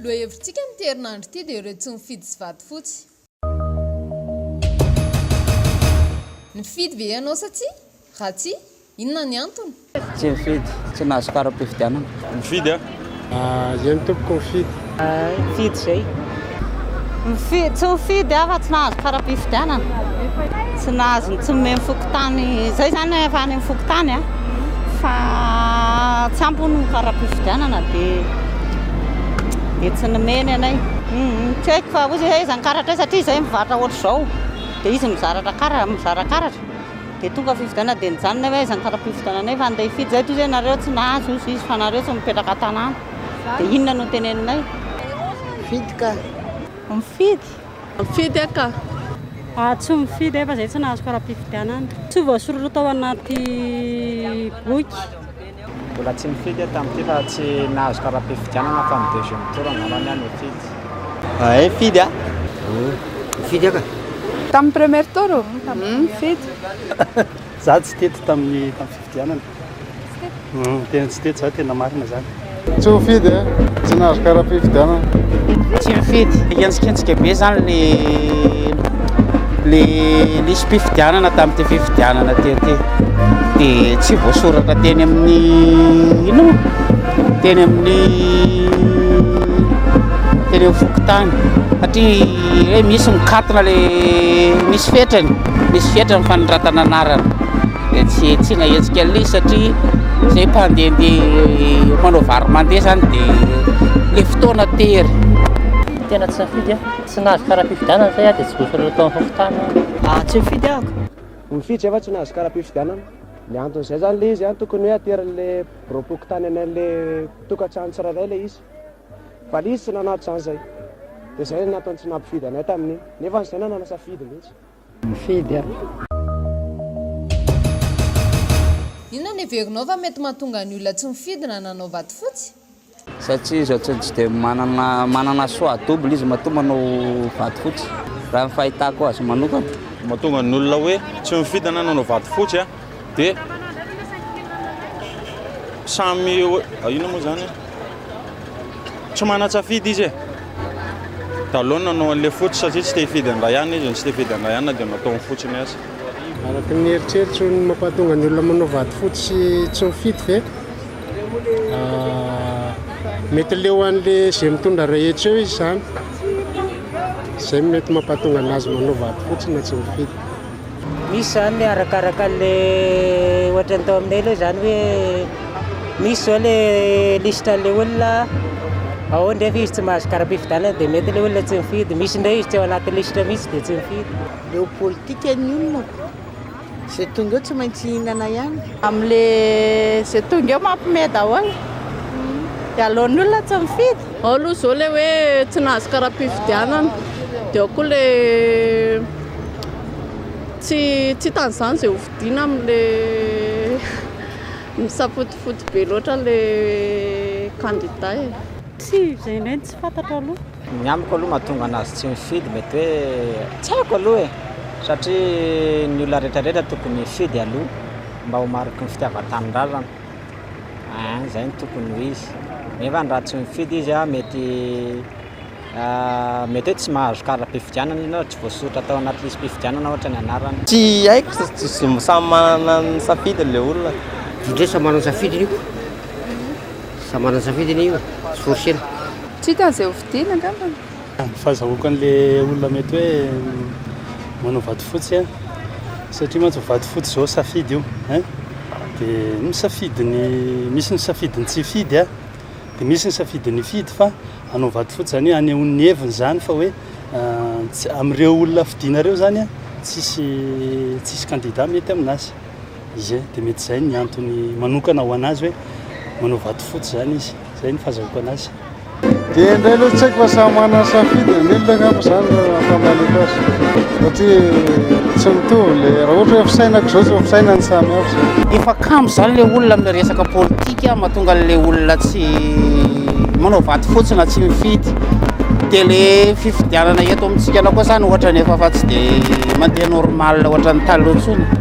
Lohahevitsika amin'ity herinandro ity dia ireo tsy mifidy sy vady fotsy. Nifidy ve ianao sa tsia? Raha tsia, Inona ny antony? Tsy nifidy, tsy nahazo kara-pifidianana. Mifidy aho. Zay ny tompoko mifidy. Mifidy zay. Mifidy, tsy nifidy aho fa tsy nahazo kara-pifidianana. Tsy nahazo ny tsy nomeny fokontany, zay zany efa any amin'ny fokontany an, fa tsy ampy hono ny kara-pifidianana dia dia tsy nomeny anay. Tsy haiko fa hozy hoe aiza ny karatra eo satria zay mivarotra ohatr'izao dia izy mizaratra kara, mizara karatra Dia tonga fifidianana dia nijanona hoe aiza ny kara-pifidiananay fa andeha hifidy izay toy izay nareo tsy nahazo izy izy fa nareo tsy mipetraka tanàna dia inona no teneninay? Mifidy ka. Mifidy? Mifidy aho ka. Aho tsy mifidy ahy fa izay tsy nahazo kara-pifidianana. Tsy voasoratra tao anaty boky. Mbola tsy nifidy aho tamin'ity fa tsy nahazo kara-pifidianana fa ny deuxième tour angamba ny ahy nifidy. Hay nifidy a! Nifidy aho ka! Tamin'ny première tour ô? Nifidy. Za tsy teto tamin'ny tamin'ny fifidianana. Tena tsy teto za tena marina zany. Tsy nifidy e! Tsy nahazo kara-pifidianana. Tsy nifidy. Hientsiketsika be zany le. le lisi-pifidianana tamin'ity fifidianana tety dia tsy voasoratra teny amin'ny ino teny amin'ny teny amin'ny fokontany satria hoe misy mikatona le misy fetrany misy fetrany fanondratana anarana dia tsy tsy nahetsika an'ilay satria zay mpandehandeha manao varo mandeha zany dia le fotoana tery tena tsy safidy a Tsy nahazo kara-pifidianana zay aho dia tsy voasoratra tao amin'ny fokontany aho. Ah, tsy nifidy aho ka! Nifidy zay fa tsy nahazo kara-pifidianana. Ny anton'izay zany le izy an, tokony hoe aterin'le biraom-pokontany any an'le tokantrano tsirairay ilay izy. Fa le izy tsy nanao an'izany zay. Dia zay no nantony tsy nampifidy anay tamin'iny. Nefa zay nanana safidy mihitsy. Nifidy aho. Inona no heverinao fa mety mahatonga ny olona tsy mifidy na nanao vatofotsy? Satria izy ohatrany tsy dia manana manana choix double izy matoa manao vady fotsy raha ny fahitako azy manokana. Mahatonga ny olona hoe tsy mifidy na nanao vady fotsy dia samy inona moa izany e? tsy manan-tsafidy izy e! dia aleo ny nanao an'ilay fotsy satria tsy te hifidy an'ilay anona izy no tsy te hifidy an'ilay anona dia nataony fotsy ny azy. Araka ny eritreritro ny mampahatonga ny olona manao vady fotsy sy tsy mifidy ve? Mety leo an'le izay mitondra rehetra eo izy zany zay mety mampatonga anazy manao vady fotsiny tsy mifidy misy zany arakaraka le ohatra ny tao aminay aloha zany hoe misy zao le liste le olona ao ndefa izy tsy mahazo karapifidianana de mety le olona tsy mifidy misy ndray izy tsy ao anaty liste mihitsy de tsy mifidy leo politika ny olona Ze tonga eo tsy maintsy hihinana ihany. Amle ze tonga eo mampme daholo de aleony olona tsy mifidy. Ao aloha zao le hoe tsy nahazo karapifidianana de ao koa le tsy tsy hitany zany ze hofidiana amle misafotofoto be loatra le candidat e. Tsia, izay indray no tsy fantatro aloha. Ny amiko aloha mahatonga anazy tsy mifidy mety hoe tsy haiko aloha e! satria ny olona retraretra tokony hifidy aloha mba ho mariky ny fitiavan-tanindrazana an! izay no tokony ho izy nefa ny raha tsy mifidy izy an! mety mety hoe tsy mahazo kara-pifidianana izy na tsy voasoritra tao anaty lisi-pifidianana ohatra ny anarany. Tsy haiko fa samy manana ny safidiny le olona. Indrisy samy manana ny safidiny io. Samy manana ny safidiny io, tsy forcena. Tsy hita an'izay ho vidiana angambany. Fazahoako an'le olona mety hoe manao vato fotsy a, satria mantsy vato fotsy izao safidy io ein, de ny safidiny, misy ny safidiny tsy hifidy a, de misy ny safidiny hifidy fa hanao vato fotsy zany hoe hanehoany ny heviny zany fa hoe amin'ireo olona fidinareo zany a tsisy tsisy candidat mety aminazy. izy dia mety izay ny antony manokana ho anazy hoe manao vato fotsy izany izy izay ny fahazahoako anazy dia indray aloha tsy haiko fa samy manana safidy ny olona angamba izany raha famaleko azy satria tsy mitovy le raha ohatra hoe fisainako izao tsy fisaina ny samy hafa izao efa kambo izany le olona amin'ny resaka politika mahatonga an'le olona tsy manao vato fotsy na tsy mifidy dia le fifidianana eto amintsika anao koa izany ohatra ny efa fa tsy dia mandeha normal ohatra ny taloha intsony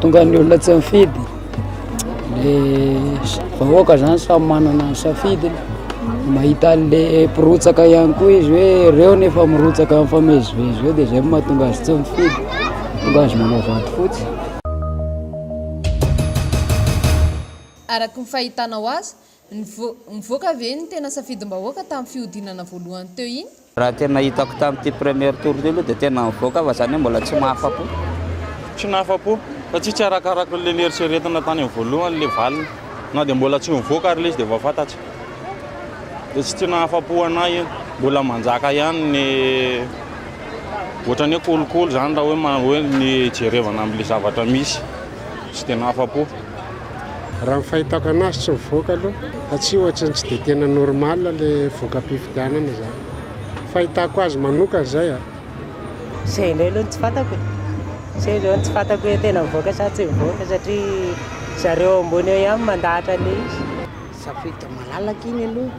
Tonga ny olona tsy mifidy, le vahoaka zany samy manana ny safidiny, mahita an'le mpirotsaka ihany koa izy hoe reo ny efa mirotsaka mifamezivezy reo de zay no mahatonga azy tsy mifidy, mahatonga azy manao vady fotsy. Araky ny fahitanao azy, Nivoaka ve ny tena safidim-bahoaka tamin'ny fihodinana voalohany teo iny? Raha tena hitako tamin'ity premier tour ity aloha dia tena nivoaka aho fa izany hoe mbola tsy nahafapo. Tsy nahafapo satsia tsy arakaraky ilay neritreretina tany amin'ny voalohany ilay valiny. Na dia mbola tsy nivoaka ary ilay izy dia efa fantatro. Dia tsy tsy nahafapo an'ahy io. Mbola manjaka ihany ny ohatran'ny hoe kolikoly izany raha hoe jerevana amin'ilay zavatra misy. tsy tena afa-po. Raha ny fahitako anazy tsy mivoaka aloha fa tsy ohatry ny tsy dia tena normal ilay voka-pifidianana izany. Fahitako azy manokana izay a. Izay indray aloha no tsy fantako e. Izay izao no tsy fantako hoe tena mivoaka sa tsy mivoaka satria zareo ambony eo ihany mandahatra ilay izy. Safidy malalaka iny aloha,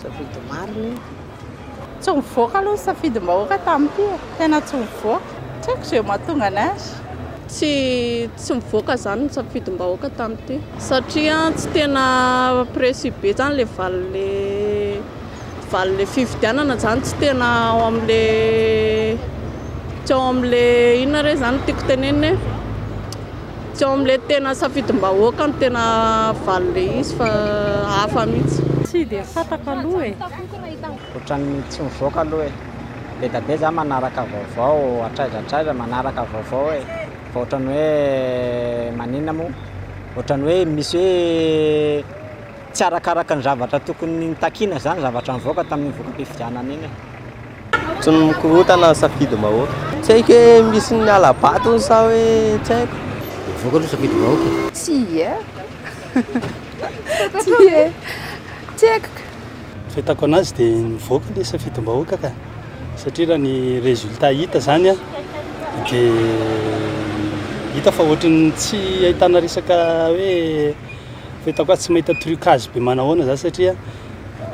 safidy marina iny. Tsy nivoaka aloha ny safidim-bahoaka tamin'ity e. Tena tsy nivoaka. Tsy haiko izay mahatonga ny azy. Tsy tsy nivoaka izany ny safidim-bahoaka tamin'ity. Satria tsy tena précis be izany ilay valin'ilay valin'ilay fifidianana izany. Tsy tena ao amin'ilay tsy ao amin'ilay inona re izany no tiako tenenina e? Tsy ao amin'ilay tena safidim-bahoaka no tena valin'ilay izy fa hafa mihitsy. Tsy dia fantako aloha e. Otrany tsy mivoaka aloha e. Bedabe za manaraka vaovao hatraidratraidrana manaraka vaovao e. Fa otrany hoe maninona moa? Otrany hoe misy hoe tsy arakaraka ny zavatra tokony nitakiana zany zavatra nivoaka tamin'iny voka-pifidianana iny e. Tsy ny mikorontana no safidy vahoaka. Tsy haiko hoe misy ny hala batony sa hoe tsy haiko. Mivoaka aloha safidy vahoaka e. Tsia e. Tsia e. Tsy haiko. Fahitako anazy dia nivoaka le safidim-bahoaka ka satria raha ny résultat hita zany dia hita fa ohatry ny tsy ahitana resaka hoe fahitako azy tsy mahita trucage be manahoana za satria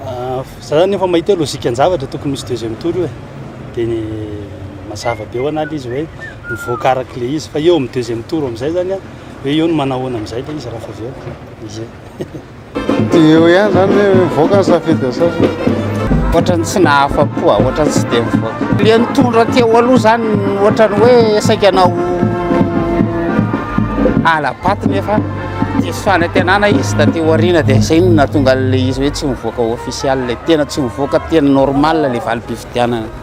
ah, za zany efa mahita hoe logikan-javatra tokony misy deuxième tour io e dia ny mazava be ho an'ala izy hoe mivoaka araka le izy fa eo amin'ny deuxième tour amin'izay zany hoe eo ny manahoana amin'izay le izy raha fa avy eo izay Dia eo ihany zany hoe mivoaka ny safidy asasany. Ohatrany tsy nahafa-po aho, ohatrany tsy dia mivoaka. Ilay nitondra teo aloha zany ohatrany hoe saika hanao hala-bato nefa diso fanantenana izy taty aoriana dia izay no nahatonga an'ilay izy hoe tsy mivoaka ofisialy, tena tsy mivoaka tena normal ilay valim-pifidianana.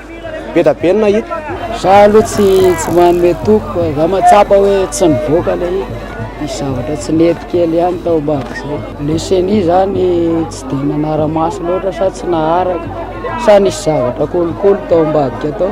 Be da be ny nahita. Za aloha tsy tsy manome toky fa za mahatsapa hoe tsy nivoaka le izy, nisy zavatra tsy nety kely ihany tao ambadika zay. Le ceni zany tsy de nanara-maso loatra sa tsy naharaka sa nisy zavatra kolikoly tao ambadika tao.